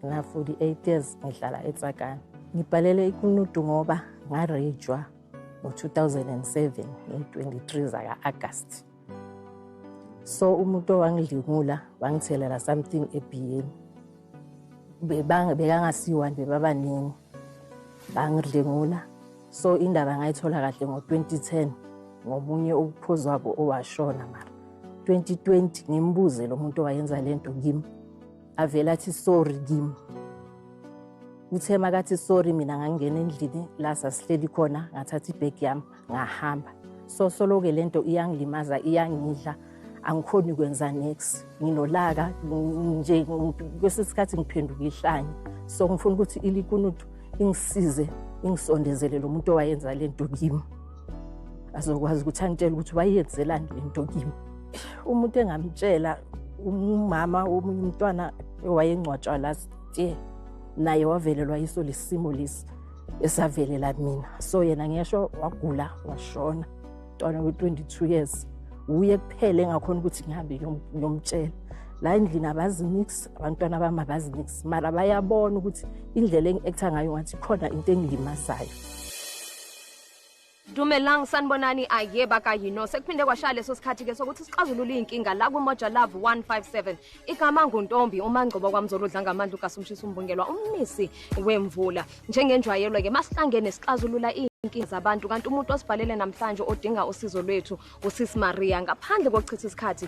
Ngina-48 years ngihlala eTsakane. Ngibhalele iKunutu ngoba ngarejwa ngo-2007 nge-23 zaka-Agasti. So umuntu owangidlingula wangithelela something ebhiyeni. Bekangasiwani bebabaningi bangidlingula. So indaba ngayithola kahle ngo-2010 ngomunye ukuphuzwabo owashona mara 2020 ngimbuze lo muntu owayenza le nto kimi avele athi sorry kimi uthe makathi sorry mina ngangena endlini la sasihleli khona ngathatha ibhegi yami ngahamba so soloke le nto iyangilimaza iyangidla angikhoni kwenza next nginolaka nje kwesinye isikhathi ngiphenduka ihlanye so ngifuna ukuthi ilikunutu ingisize ingisondezele lo muntu owayenza le nto kimi azokwazi ukuthi angitshele ukuthi wayenzelani le nto kimi umuntu engamtshela umama omunye umntwana owayengcwatshwa last year naye wavelelwa yiso lesimo lesi esavelela mina so yena ngesho wagula washona mntwana we-22 years wuye kuphele engakhona ukuthi ngihambe ngiyomtshela la endlini abazinix abantwana bami abazinix mara bayabona ukuthi indlela engi-ektha ngayo ngathi khona into engilimazayo Dumelang sanibonani aye bakayino sekuphinde kwashaya leso sikhathi ke sokuthi sixazulule inkinga la ku Moja Love 157 igama nguntombi umangcobo kwamzolo udlanga amandla ugasumshisa umbungelwa umnisi wemvula njengenjwayelo ke masihlangene sixazulula inkinga zabantu kanti umuntu osibhalele namhlanje odinga usizo lwethu usisi Maria ngaphandle kokuchitha isikhathi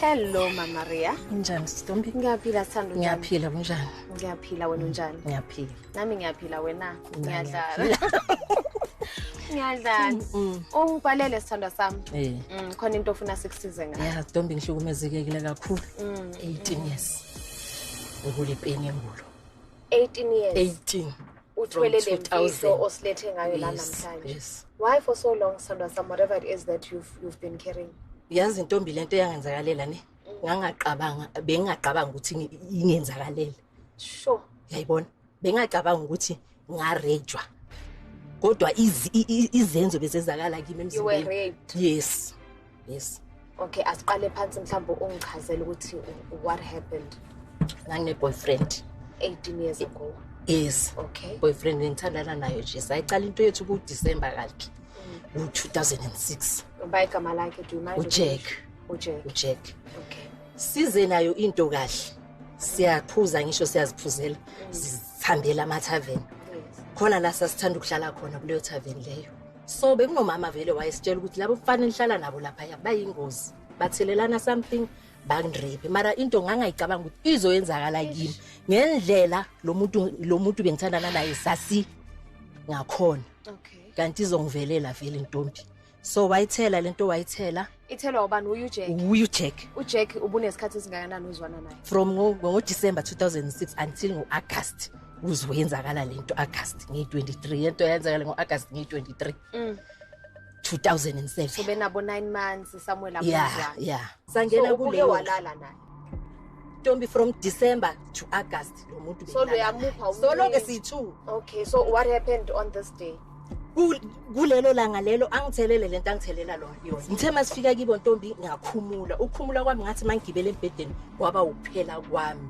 Hello Mama Ria. Unjani Stombi? Ngiyaphila sithando. Ngiyaphila unjani? Ngiyaphila wena unjani? Ngiyaphila. Nami ngiyaphila wena. Ngiyadlala. Ngiyadlala. Mm, mm. Ungibhalele sithando sami. Eh. Mm, khona into ofuna sikusize ngayo. Yeah, Stombi ngihlukumezekile kakhulu. 18 years. Ngule peni emulo. 18 years. 18. uthwele le mfihlo osilethe ngayo la namhlanje why for so long sandwa some whatever it is that you've, you've been carrying yazi intombi lento eyangenzakalela ne mm. ngangaqabanga bengingaqabanga ukuthi ingenzakalela sure yayibona bengingaqabanga ukuthi ngarejwa kodwa izenzo bezenzakala kimi emzimbeni yes yes okay asiqale phansi mhlawumbe ungichazele ukuthi what happened ngangine-boyfriend 18 years ago yes okay boyfriend ngithandana nayo nje sayiqala into yethu kudisemba kakhe mm. ngo-2006 uba igama lakhe do you mind ujack ujack ujack okay size nayo into kahle siyaphuza ngisho siyaziphuzela mm. sihambela amathaveni khona la sasithanda ukuhlala khona kuleyo thaveni leyo so bekunomama vele wayesitshela ukuthi labo mfana engihlala nabo laphaya bayingozi bathelelana something bangirephe mara into ngangayicabanga ukuthi izoyenzakala kimi ngendlela lo muntu lo muntu bengithandana naye sasi ngakhona kanti izongivelela vele intombi so wayithela lento wayithela ithelwa ubani uyu jack uyu jack ujack ubunesikhathi esingakanani uzwana naye from ngo-december 2006 until ngo-august uzwe yenzakala le nto august ngiyi-23 yento yenzakala ngo-august ngiyi-23 mm. 2007 so benabo 9 months somewhere lapho yeah, yeah. sangena so, kuleyo walala naye ntombi from december to august lo muntu so luyamupha solo ke siyi-two okay so what happened on this day kulelo langa lelo angithelele lento angithelela lona yona ngithe masifika kibo ntombi ngakhumula ukukhumula kwami ngathi mangigibele embhedeni kwaba ukuphela kwami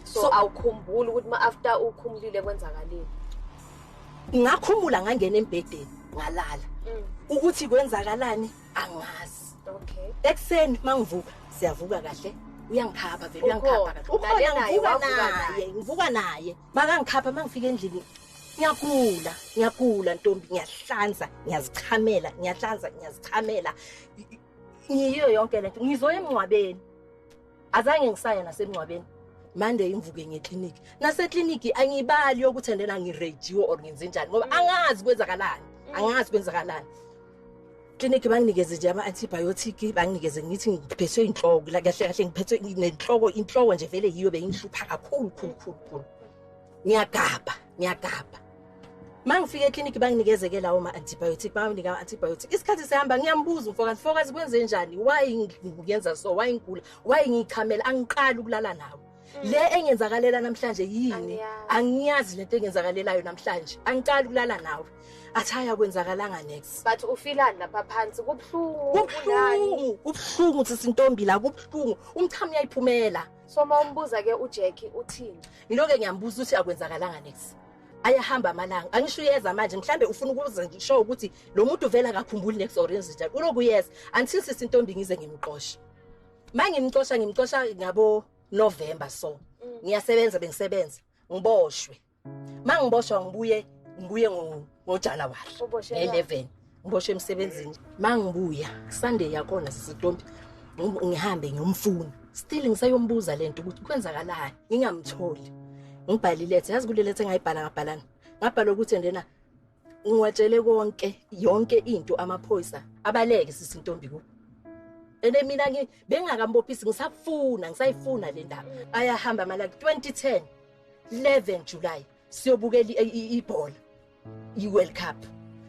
so, so awukhumbuli ukuthi ma after ukhumulile kwenzakalile ngakhumula ngangena embhedeni ngalala mm. ukuthi kwenzakalani angazi okay ekuseni mangivuka siyavuka kahle uyangikhapha vele uyangikhapha kahle ukhona ngivuka naye ngivuka naye makangikhapha mangifika endlini ngiyagula ngiyagula ntombi ngiyahlanza ngiyazichamela ngiyahlanza ngiyazichamela ngiyiyo yonke lento ngizoya emngcwabeni azange ngisaya nasemngcwabeni mande imvuke ngekliniki nasekliniki angiyibali yokuthi andena ngirejiwe or ngenze njani ngoba angazi kwenzakalani angazi kwenzakalani kliniki banginikeze nje ama-antibiotic banginikeze ngithi ngiphethwe inhloko kahle kahle ngiphethwe nenhloko inhloko nje vele yiyo beyingihlupha kakhulu khulu khulu khulu ngiyagabha ngiyagabha mangifika ekliniki banginikezeke lawo ma-antibiotic banginika ama-antibiotic isikhathi sihamba ngiyambuza umfokazi mfokazi kwenze njani why ngiyenza so why ngigula why ngiyichamela angiqali ukulala nawo mm. le engenzakalela namhlanje yini angiyazi lento engenzakalelayo namhlanje angiqali ukulala nawe athi haya kwenzakalanga next but ufilani lapha phansi kubuhlungu kubuhlungu kubuhlungu sisintombi la kubuhlungu umchamo uyayiphumela so uma umbuza ke ujacki uthini ngiloke ngiyambuza ukuthi akwenzakalanga next ayahamba amalanga angisho uyeza manje mhlambe ufuna ukuzisho ukuthi lo muntu uvela akakhumbuli next orange njalo ulokuyeza until sisi intombi ngize ngimqoshe mangimqosha ngimqosha ngabo November so mm. ngiyasebenza bengisebenza ngiboshwe mangiboshwa ngibuye ngibuye ngojanuwari nge-11 ngiboshwe emsebenzini mangibuya sunday yakhona sisitompi ngihambe ngiyomfuna still ngisayombuza le nto ukuthi kwenzakalani ngingamtholi ngibhale iletha yazi kule letha engayibhala ngabhalana ngabhala ukuthi ndena ngiwatshele konke yonke into amaphoyisa abaleke sisintombi ku ene mina ngi bengakambophisi ngisafuna ngisayifuna le ndaba ayahamba malaki 2010 11 July siyobukela ibhola iWorld Cup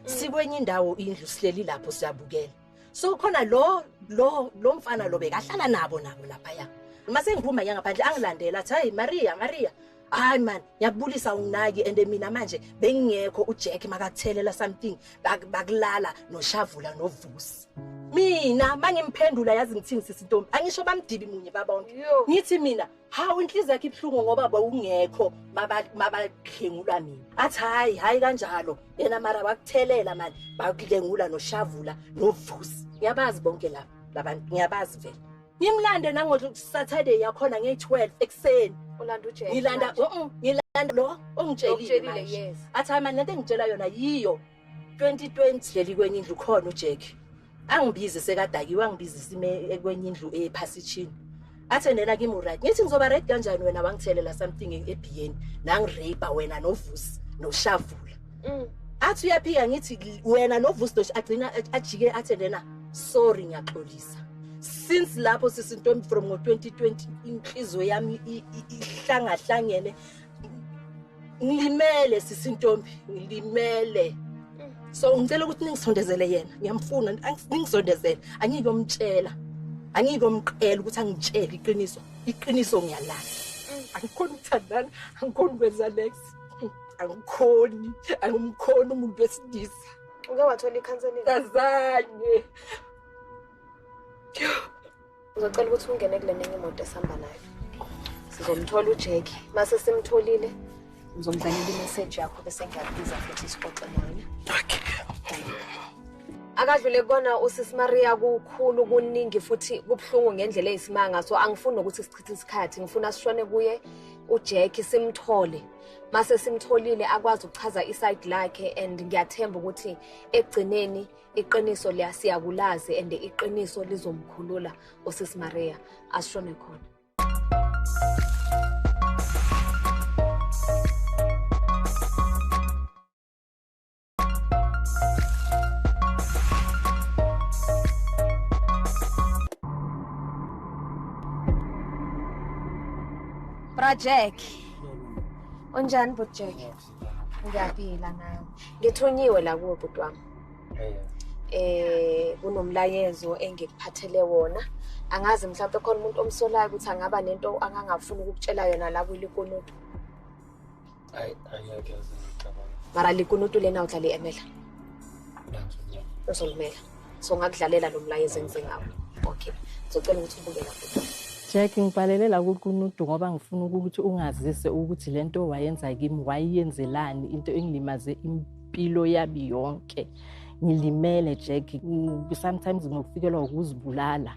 sikwenye indawo indlu sihleli lapho siyabukela so khona lo lo lo mfana lo bekahlala nabo nabo lapha ya uma sengiphuma ngiyangaphandle angilandela athi hey Maria Maria hayi man ngiyakubulisa unginaki and mina manje bengingekho uJack makathelela something bakulala noshavula novusi mina mangimphendula yazi ngithini sisi ntombi angisho bamdibi munye babonke ngithi mina hawu inhliziyo yakhe ibuhlungu ngoba bawungekho mabadlengula mina athi hayi hayi kanjalo yena mara bakuthelela mani bakudlengula noshavula novusi ngiyabazi bonke laba labantu ngiyabazi vele Ngimlande nango Saturday yakhona nge 12 ekseni. Ulanda uJesu. Ngilanda mhm ngilanda lo ongitshelile yes. Athi hayi manje lento engitshela yona yiyo 2020 leli kwenye indlu khona uJack. Angibizi sekadakiwe angibizi sime kwenye indlu ephasitshini. athe nena kimi uright ngithi ngizoba right kanjani wena wangithelela something ebhiyeni nangirape wena novusi noshavula Mm. Athi uyaphika ngithi wena noVusdosh agcina ajike athe lena sorry ngiyaxolisa. Since lapho sisintombi from ngo2020 inhliziyo yami ihlangahlangene ngilimele sisintombi ngilimele so ngicela ukuthi ningisondezele yena ngiyamfuna ningisondezele angiyike umtshela angiyike umqela ukuthi angitshele iqiniso iqiniso ngiyalala angikhona ukuthandana angikhona ukwenza next angikhoni angimkhoni umuntu wesilisa uke wathola ikhanselingi kazanye uzocela ukuthi ungene kule nenye imoto esihamba nayo sizomthola ujeki mase simtholile ngizomdlalela imeseji yakho bese ngiyakubiza futhi sixoxe naye okay akadlule kona usisi Maria kukhulu kuningi futhi kubuhlungu ngendlela eyisimanga so angifuni nokuthi sichithe isikhathi ngifuna sishone kuye uJackie simthole mase simtholile akwazi ukuchaza iside lakhe and ngiyathemba ukuthi ekugcineni iqiniso liyasiyakulazi and iqiniso lizomkhulula usisi Maria asishone khona Bra Jack. Unjani bhuti Jack? Ngiyaphila nawe. Ngithunyiwe la kuwe bhuti wami. Eh kunomlayezo engikuphathele wona. Angazi mhlawumbe khona umuntu omsolayo ukuthi angaba nento angangafuni ukukutshela yona la kulikonoti. mara likunutu lena o tla le emela o so lumela so ngakudlalela lo mlayezo engize ngawo okay ngizocela ukuthi ubuke lapho Jack ngibhalelela kukunudu ngoba ngifuna ukuthi ungazise ukuthi lento wayenza kimi wayenzelani into engilimaze impilo yabi yonke ngilimele Jack sometimes ngokufikelwa ukuzibulala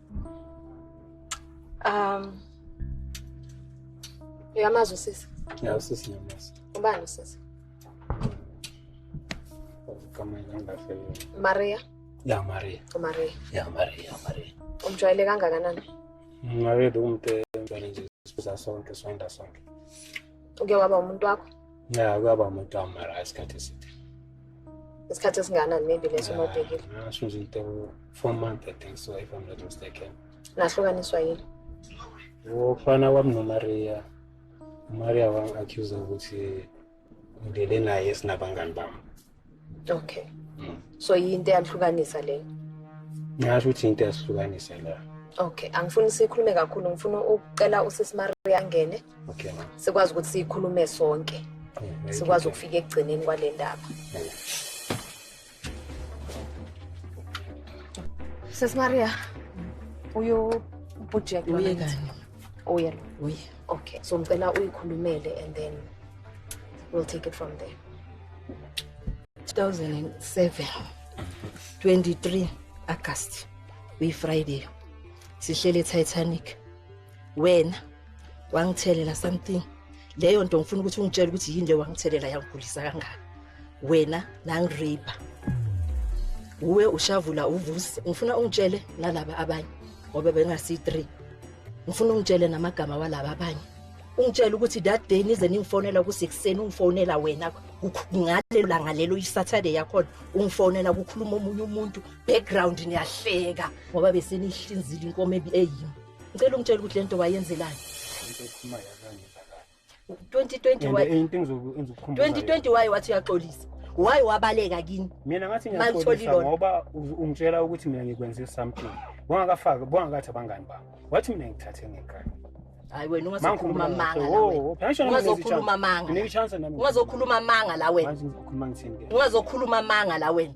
Um Uyamazi usisi? Ya usisi ngiyamazi. Ubani usisi? Maria. Ya Maria. Maria. Ya Maria, Maria. Umjwayele kangakanani? Maria umuntu eh, umjwayele nje sibuza sonke, sonda sonke. uke waba umuntu wakho ya kuyaba umuntu wami mara isikhathi eside isikhathi esinganani maybe leso uma ubhekile ngasho nje into four month i think so if i'm not mistaken nahlukaniswa yini ufana wami nomaria umaria wang-accusa ukuthi ngilele naye sinabangani bami okay mm. so yinto eyahlukanisa leyo ngasho ukuthi into eyahlukanisa la okay angifuni sikhulume kakhulu ngifuna ukucela usisi Maria angene okay sikwazi ukuthi sikhulume sonke mm, sikwazi ukufika ekugcineni kwale ndaba mm. Sis Maria uyo project uye kani uye uye okay so ngicela uyikhulumele and then we'll take it from there 2007 23 August we Friday sihlele Titanic wena wangithelela something leyo nto ngifuna ukuthi ungitshele ukuthi yini le wangithelela yangigulisa kangaka wena nangirape uwe ushavula uvusi ngifuna ungitshele nalaba abanye ngoba bengasi 3 ngifuna ungitshele namagama walaba abanye ungitshela ukuthi that day nize ningifonela ukuthi ekuseni ungifonela wena ngalelo langa lelo isaturday yakhona ungifonela kukhuluma omunye umuntu background niyahleka ngoba besenihlinzile inkomo eyimi ngicela ungitshela ukuthi le nto wayenzelani 2020 waye wathi uyaxolisa waye wabaleka kini mina ngathi ngiyaxolisa ngoba ungitshela ukuthi mina ngikwenze something bongakafaki bongakathi abangani bami wathi mina ngithathe ngekani hayi wena ungazokhuluma amanga ungazokhuluma amanga ungazokhuluma amanga la wena ungazokhuluma amanga la wena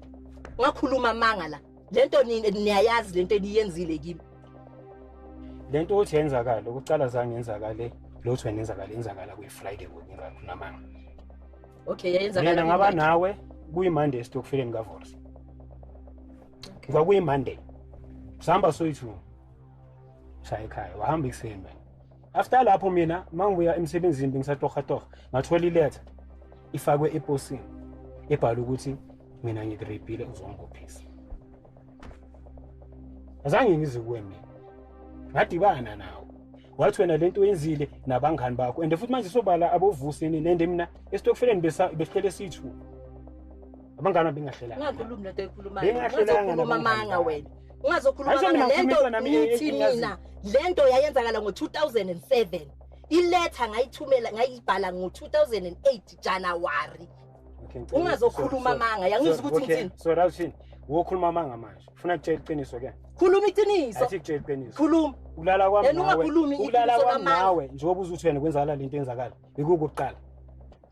ungakhuluma amanga la le nto niyayazi le nto eniyenzile kimi le nto ukuthi yenzakala ukucala zange yenzakale lotho wena yenzakala yenzakala kuyi-friday kunamanga okay yayenzakala ngaba nawe kuyi-monday esitokufileni kavorsi kwakuyi-monday sihamba soyi-two shaya ekhaya wahamba ekuseni wena after lapho mina uma ngibuya emsebenzini bengisatohatoha ngathola iletha ifakwe eposini ebhala ukuthi mina ngikureyibhile uzongibophisa azange ngize kuwe mina ngadibana nawo wathi wena lento oyenzile nabangani bakho and futhi manje sobala abovuseni nende mina esitokfeleni besihlele sithu abangani bengahlelanga ungakhulumi lento ekhulumayo ungazokhuluma amanga wena ungazokhuluma amanga lento ngithi mina lento yayenzakala ngo-2007 iletha ngayithumela ngayibhala ngo-2008 januwari ungazokhuluma amanga yangizwa ukuthi ngithini so rawuthini wokhuluma amanga manje ufuna kutshela iqiniso ke khuluma iqiniso athi kutshela iqiniso khuluma ukulala kwami nawe ukulala kwami nawe njengoba uzuthi wena kwenzakala lento enzakala ikukuqala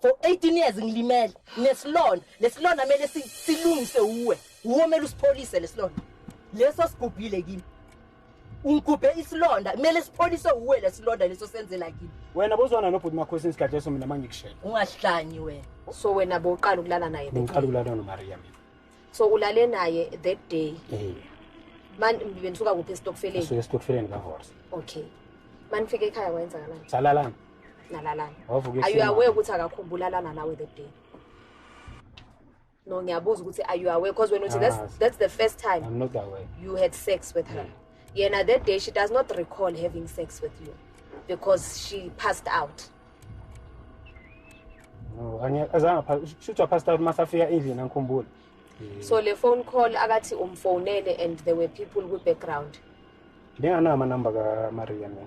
for 18 years ngilimele nesilonda lesilonda kumele silungise uwe uwe kumele usipholise lesilonda leso sigubhile kimi ungigubhe isilonda kumele sipholise uwe lesilonda leso senzela kimi wena bozwana nobhuti makhosi isikhathi leso mina mangikushela ungahlanyi wena so wena boqala ukulala naye ngiqala ukulala nomaria mina so ulale naye that day eh man benisuka kuphi estokfeleni sike estokfeleni ka horse okay manifike ekhaya wayenzakalani salalana nalalana Wavuka are you ehlomama. aware ukuthi akakhumbula lana nawe that day no ngiyabuza ukuthi are you aware because wena uthi that's, Angazi. that's the first time I'm not aware. you had sex with her yena that day she does not recall having sex with you because she passed out No, angiya- azange apha- shuthi waphasta out masafika endlini angikhumbuli. so le phone call akathi umfonele and there were people kwi-background Ndinganawo amanamba kaMaria mina.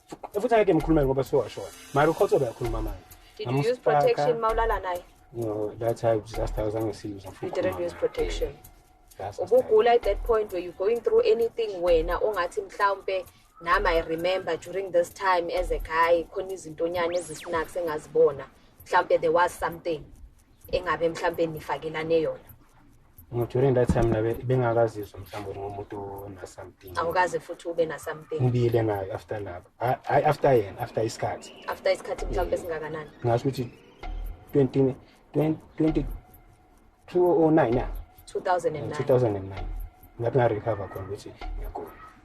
futhi angeke ngikhulume ngoba sewashona mara ukhotho uyakhuluma manje Did you use protection mawulala naye? No, that time just I was on serious. You didn't use protection. Ubugula at that point were you going through anything wena ongathi mhlawumbe nami I remember during this time as a guy khona izintonyana ezisnacks engazibona mhlawumbe there was something engabe mhlawumbe nifakelane yona during that time nabe bengakazizwa mhlawumbe ngomuntu ona-something awukaze futhi ube na-something ngibile nayo after lapho hayi after yena after isikhathi after isikhathi mhlawumbe singakanani ngasho ukuthi 20 20 2009 ya 2009 lapho ngarecover khona ukuthi ngiyagula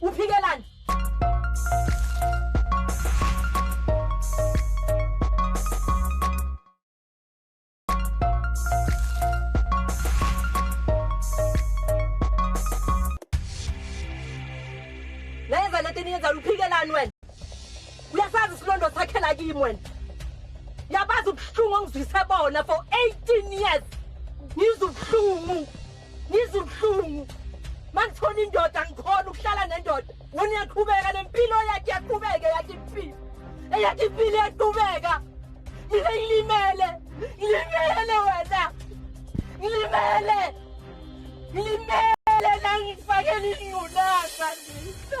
Uphikelani? Nayenza lento eniyenza luphikelani wena? Uyasazi isilondo sakhe la kimi wena. Yabazi ubuhlungu ongizwise bona for 18 years. Ngizwe ubuhlungu. ngizwa ubuhlungu mangithola indoda ngikhona ukuhlala nendoda wona uyaqhubeka nempilo yakhe yaqhubeke yakhe impilo eyakhe impilo yaqhubeka mina ngilimele ngilimele wena ngilimele ngilimele nangifakela ingculaza ndisa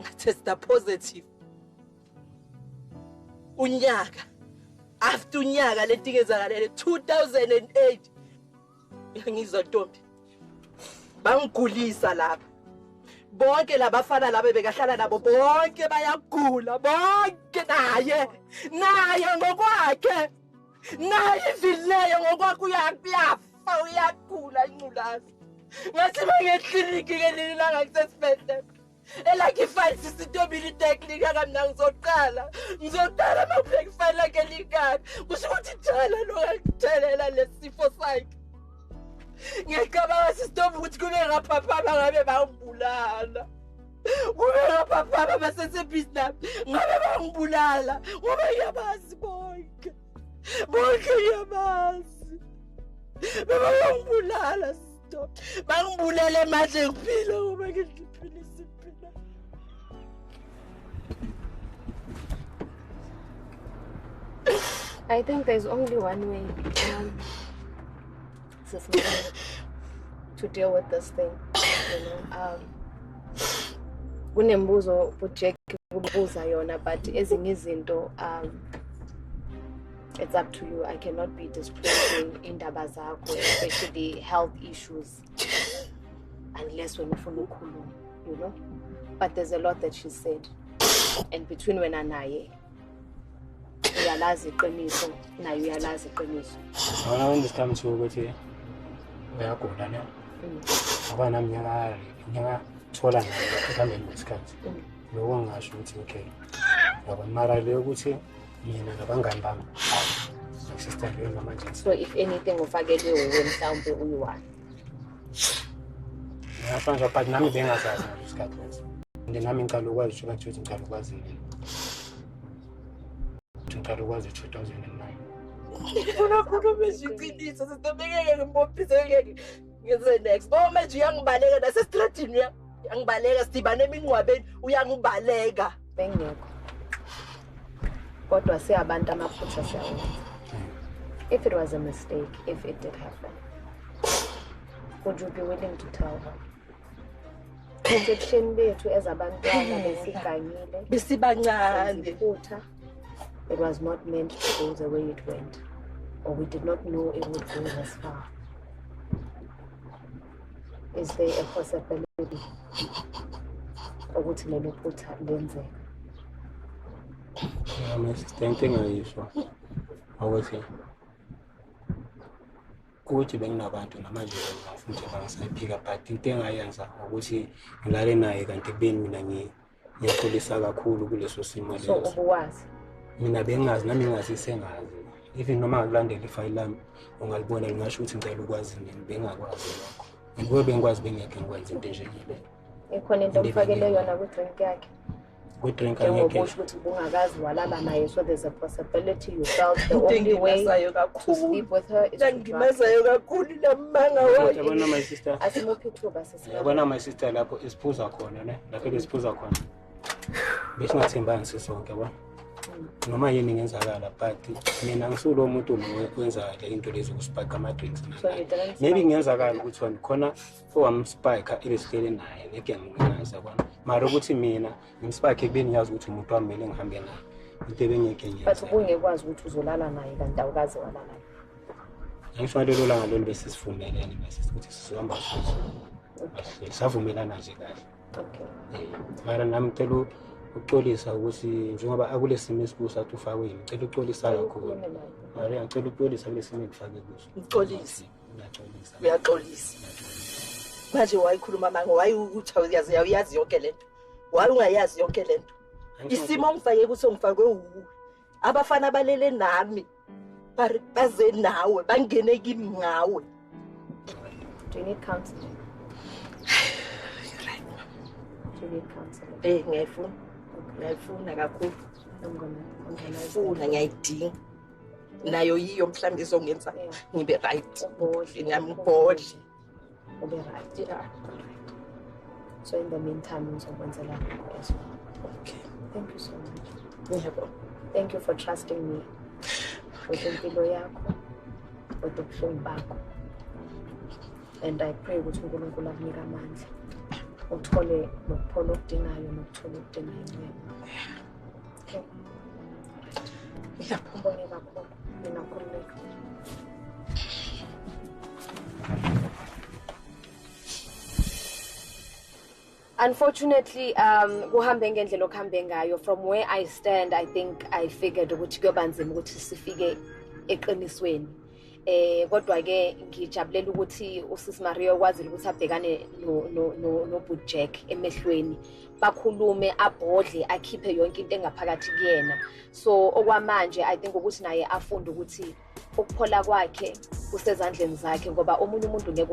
ngatesta positive unyaka after unyaka letingezakalele 2008 ngizwa ntombi bangigulisa lapha bonke labafana laba bekahlala nabo bonke bayagula bonke naye naye ngokwakhe naye ivileyo ngokwakhe uyakuyafa uyagula inculazi ngathi bangekliniki ngelinye ilanga kusesibhedlela elakhe ifayili sisitobile itek lingakami na ngizoqala ngizoqala uma kubheka ifayili lakhe lingami kusho ukuthi jala lokakuthelela lesifo sakhe ngiyacabanga sisitoba ukuthi kube ngaphaphama ngabe bangibulala kube ngaphaphama basesebhizi nami ngabe bangibulala ngoba ngiyabazi bonke bonke ngiyabazi bebangibulala bangibulele manje ngiphila ngoba ngiphila isiphila I think there's only one way um, to deal with this thing. You know, um, kunembuzo uJack kubuza yona but ezinye izinto um it's up to you i cannot be disclosing indaba zakho especially health issues unless when ufuna ukukhuluma you know but there's a lot that she said and between wena naye uyalazi iqiniso naye uyalazi iqiniso ngona when this comes to ukuthi uyagula ne mm. ngoba nami ngiyaka ngiyakathola naye ekuhambeni kwesikhathi mm. loko ngingasho ukuthi okay yabona mara le ukuthi mina nabangani bami sister leyo namanje so if anything ufakelwe wuwe mhlawumbe uyi-one ngiyafana but nami bengazazi ngaleso sikhathi leso and nami ngicala ukwazi ukuthi kathi ukuthi ngicala ukwazi yini ukuthi ngicala ukwazi two thousand and nine unakhuluma iqiniso sitobekeke ngimbophise ngeke ngize next ngoba manje uyangibaleka nasesitradini uyangibaleka sidibane emingcwabeni uyangibaleka bengekho kodwa siyabantu amaphutha siyawenza if it was a mistake if it did happen would you be willing to tell her ebusheni bethu ezabantwana besigangile besibancane futhi It was not meant to go the way it went, or we did not know it would go this far. Is there a possibility ukuthi lelo phutha lenzeka? Um, assistant engayisho ukuthi ukuthi benginabantu namanje ngifuna ukuthi bangisayiphika but into engayenza ukuthi ngilale naye kanti kubeni mina ngiyi ngiyaxolisa kakhulu kuleso simo leso so ubuwazi mina bengazi nami ngazi sengazi even noma ngikulandela ifayili lami ungalibona lingasho ukuthi ngicela ukwazi mina bengakwazi lokho ngibuye bengikwazi bengekho ngikwenza into enjengile ikhona into omfakele yona kwi-drink yakhe kwi-drink angeke ukuthi ubungakazi walala naye so there's a possibility you felt the only way to sleep with her is to kakhulu lamanga wayo asimuphi ithuba yabona my sister lapho esiphuza khona ne lapho besiphuza khona besingathembani sisonke yabona noma yini ngenzakala but mina ngisulo umuntu wenza le into lezi ukusipaka ama-drinks maybe kungenzakala ukuthi wena khona owamspika ebesihlele naye ngeke ngingazi yabona mara ukuthi mina ngimspike ekubeni ngiyazi ukuthi umuntu wami mele ngihambe naye into ebengeke ngiyenzbut ubungekwazi ukuthi uzolala naye kanti awukaze walala Ngifake lelo langa lolu bese sivumelene bese ukuthi sizohamba futhi. Savumelana nje kahle. Okay. Eh, mara nami ngicela ukuxolisa ukuthi njengoba akulesimo esikuso athi ufakwe yini ngicela uxolisa kakhulu mara ngicela uxolisa kulesimo engifake kuso uxolise ngiyaxolisa uyaxolisa manje wayikhuluma manga wayewukuthi awuyazi awuyazi yonke le nto waye ungayazi yonke le nto isimo ongifake kuso ngifakwe wuwe abafana balele nami bari baze nawe bangene kimi ngawe do you need counseling you're right do you need counseling eh ngiyayifuna ngiyayifuna kakhulu ngiyayifuna ngiyayidinga nayo yiyo mhlawumbe izongenza ngibe right nami ngigodle ube right yeah. so in the meantime ngizokwenzela lokho as well okay thank you so much yebo thank you for trusting me with impilo yakho with ubuhlungu bakho and i pray ukuthi unkulunkulu akunike amandla uthole nokuphola okudingayo nokuthola okudingayo Ngiyaphumula kakhulu mina nkululeko. Unfortunately um kuhambe ngendlela okuhambe ngayo from where I stand I think I figured ukuthi kuyobanzima ukuthi sifike eqinisweni. eh kodwa ke ngijabulela ukuthi usisi Maria okwazile ukuthi abhekane no no no, no Boot Jack emehlweni bakhulume abhodle akhiphe yonke into engaphakathi kuyena so okwamanje i think ukuthi naye afunde ukuthi ukuphola kwakhe kusezandleni zakhe ngoba omunye umuntu ngeke